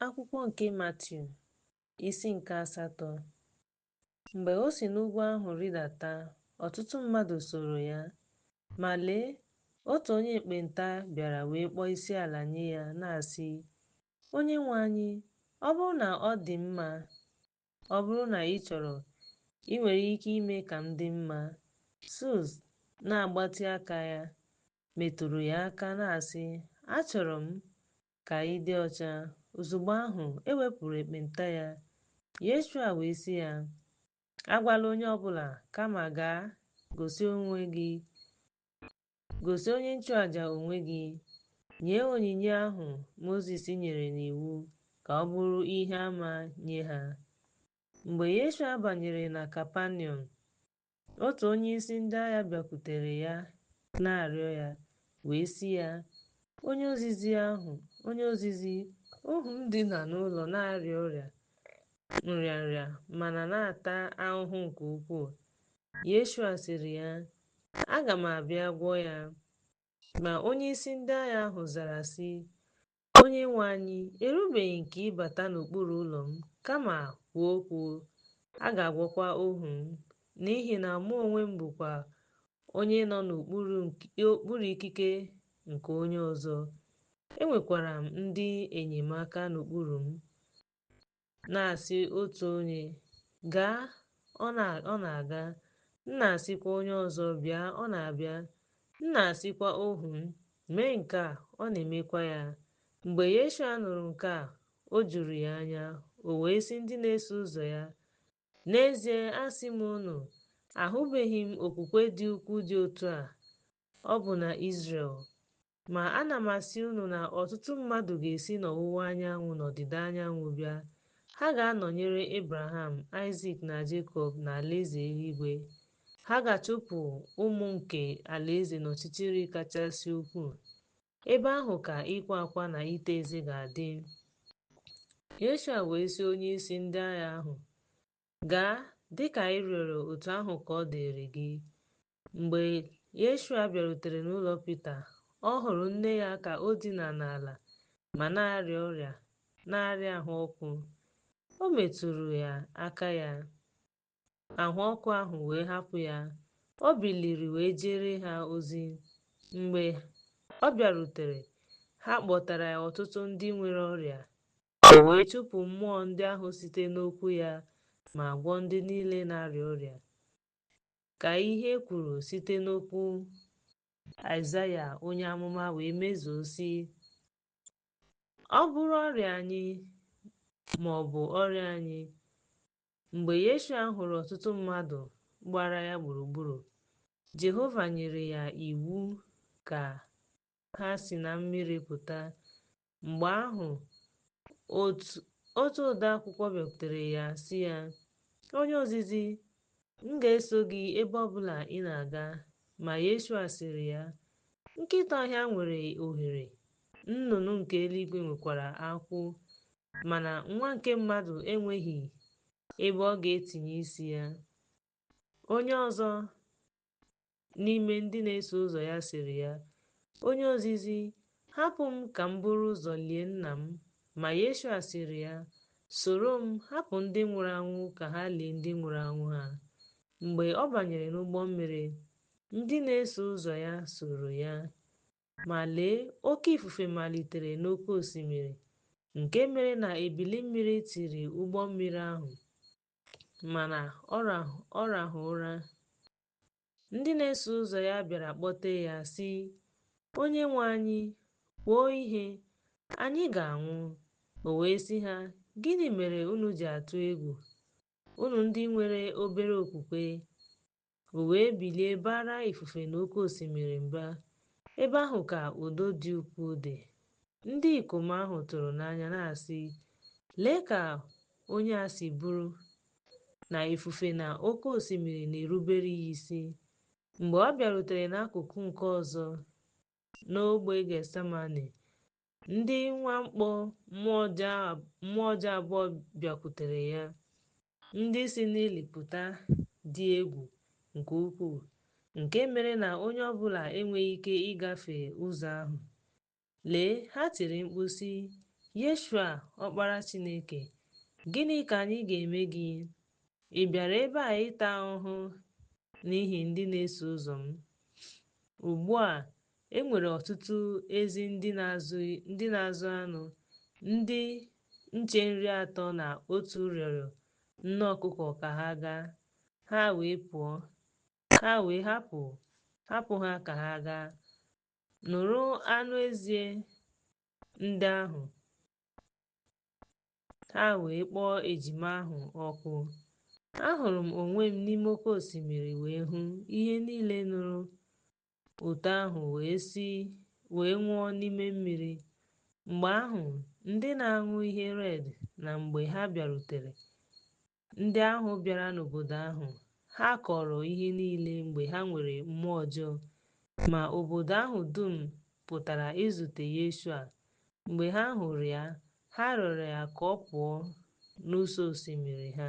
Akwụkwọ nke Matiu, isi nke asatọ Mgbe o si n'ugwu ahụ rịdata, ọtụtụ mmadụ sooro ya. Ma lee, otu onye ekpenta bịara wee kpọọ isiala nye ya, na-asị, Onyenwe anyị, ọ bụrụ na ọ dị mma, ọ bụrụ na ị chọrọ, i nwere ike ime ka m dị mma. Sus, na-agbatị aka ya, metụrụ ya aka, na-asị, Achọrọ m, ka ị dị ọcha. Ozugbo ahụ, e wepụrụ ekpenta ya. Yeshua wee sị ya, Agwala onye ọ bụla, kama gaa gosi onye nchụaja onwe gị, nye onyinye ahụ Mozis nyere n'iwu ka ọ bụrụ ihe ama nye ha. Mgbe Yeshua banyere na Kapaniọm, Otu onyeisi ndị agha bịakwutere ya na-arịọ ya, wee sị ya, Onye ozizi ahụ, onye ozizi, ohu m dina n'ụlọ na-arịa ọrịa nrịanrịa ma na na-ata ahụhụ nke ukwuu. Yeshua sịrị ya, Aga m abịa gwọọ ya. Ma onyeisi ndị agha ahụ zara sị, Onyenwe anyị, erubeghị nke ịbata n'okpuru ụlọ m, kama kwuo okwu, a ga-agwọkwa ohu m, n'ihi na mụ onwe m bụkwa onye nọ n'okpuru ikike nke onye ọzọ, enwekwara m ndị enyemaka n'okpuru m. Na-asị otu onye, Gaa, ọ na-aga. M na-asịkwa onye ọzọ, Bịa, ọ na-abịa. M na-asịkwa ohu m, Mee nke a, ọ na-emekwa ya. Mgbe Yeshua nụrụ nke a, o juru ya anya, o wee sị ndị na-eso ụzọ ya, N'ezie asị m unu, ahụbeghị m okwukwe dị ukwuu dị otu a, ọbụna Izrel. Ma ana m asị unu na ọtụtụ mmadụ ga-esi n'ọwụwa anyanwụ na ọdịda anyanwụ bịa, ha ga-anọnyere Abraham, Aịzik na Jekọb n'alaeze eluigwe. Ha ga-achụpụ ụmụ nke alaeze n'ọchịchịrị kachasị ukwuu. Ebe ahụ ka ịkwa akwa na ịta eze ga-adị. Yeshua wee sị onyeisi ndị agha ahụ, Gaa, dị ka ị rịọrọ otu ahụ ka ọ dịrị gị. Mgbe Yeshua bịarutere n'ụlọ Pita, ọ hụrụ nne ya ka o dina n'ala ma na-arịa ọrịa na-arịa ahụ ọkụ. O metụrụ ya aka ya, ahụ ọkụ ahụ wee hapụ ya. O biliri wee jere ha ozi. Mgbe ọ bịarutere, ha kpọtara ya ọtụtụ ndị nwere ọrịa. O wee chụpụ mmụọ ndị ahụ site n'okwu ya ma gwọọ ndị niile na-arịa ọrịa. ka ihe e kwuru site n'okwu Aịzaya onye amụma wee mezuo sị ọ bụrụ ọrịa anyị ma ọ bụ ọrịa anyị mgbe Yeshua hụrụ ọtụtụ mmadụ gbara ya gburugburu Jehova nyere ya iwu ka ha si na mmiri pụta. Mgbe ahụ, otu ode akwụkwọ bịakwutere ya sị ya, Onye ozizi, m ga-eso gị ebe ọ bụla ị na-aga. Ma Yeshua sịrị ya, Nkịta ọhịa nwere ohere, nnụnụ nke eluigwe nwekwara akwụ, mana nwa nke mmadụ enweghị ebe ọ ga-etinye isi ya. Onye ọzọ n'ime ndị na-eso ụzọ ya sịrị ya, Onye ozizi, hapụ m ka m buru ụzọ lie nna m. Ma Yeshua sịrị ya, Soro m, hapụ ndị nwụrụ anwụ ka ha lie ndị nwụrụ anwụ ha. Mgbe ọ banyere n'ụgbọ mmiri, ndị na-eso ụzọ ya soro ya. Ma lee, oke ifufe malitere n'oke osimiri, nke mere na ebili mmiri tiri ụgbọ mmiri ahụ. Mana ọ rahụ ụra. Ndị na-eso ụzọ ya bịara kpọtee ya sị, Onyenwe anyị, kwuo ihe, anyị ga-anwụ. O wee sị ha, Gịnị mere unu ji atụ egwu, unu ndị nwere obere okwukwe? O wee bilie baara ifufe na oke osimiri mba. Ebe ahụ ka udo dị ukwuu dị. Ndị ikom ahụ tụrụ n'anya na-asị, Lee ka onye a si bụrụ na ifufe na oke osimiri na-erubere ya isi! Mgbe ọ bịarutere n'akụkụ nke ọzọ n'ogbe Getsemane, Ndị mwakpo mmụọ ọjọọ abụọ bịakwutere ya, ndị si n'ili pụta dị egwu nke ukwuu, nke mere na onye ọ bụla enweghị ike ịgafe ụzọ ahụ. Lee, ha tiri mkpu sị, Yeshua, Ọkpara Chineke, gịnị ka anyị ga-eme gị? Ị bịara ebe a ịta ahụhụ n'ihi ndị na-eso ụzọ m? Ugbu a, E nwere ọtụtụ ezi ndị na-azụ anụ, ndị nche nri atọ na otu rịọrọ nne ọkụkọ ka ha gaa, ha wee pụọ. Ha wee hapụ ha ka ha gaa nụrụ anụ ezi ndị ahụ. Ha wee kpọọ ejima ahụ ọkụ. Ahụrụ m onwe m n'ime oke osimiri wee hụ ihe niile nụrụ otu ahụ wee nwụọ n'ime mmiri. Mgbe ahụ, ndị na-aṅụ ihe red na mgbe ha bịarutere, ndị ahụ bịara n'obodo ahụ, ha kọrọ ihe niile mgbe ha nwere mmụọ ọjọọ. Ma obodo ahụ dum pụtara izute Yeshua. Mgbe ha hụrụ ya, ha rịọrọ ya ka ọ pụọ n'ụsọ osimiri ha.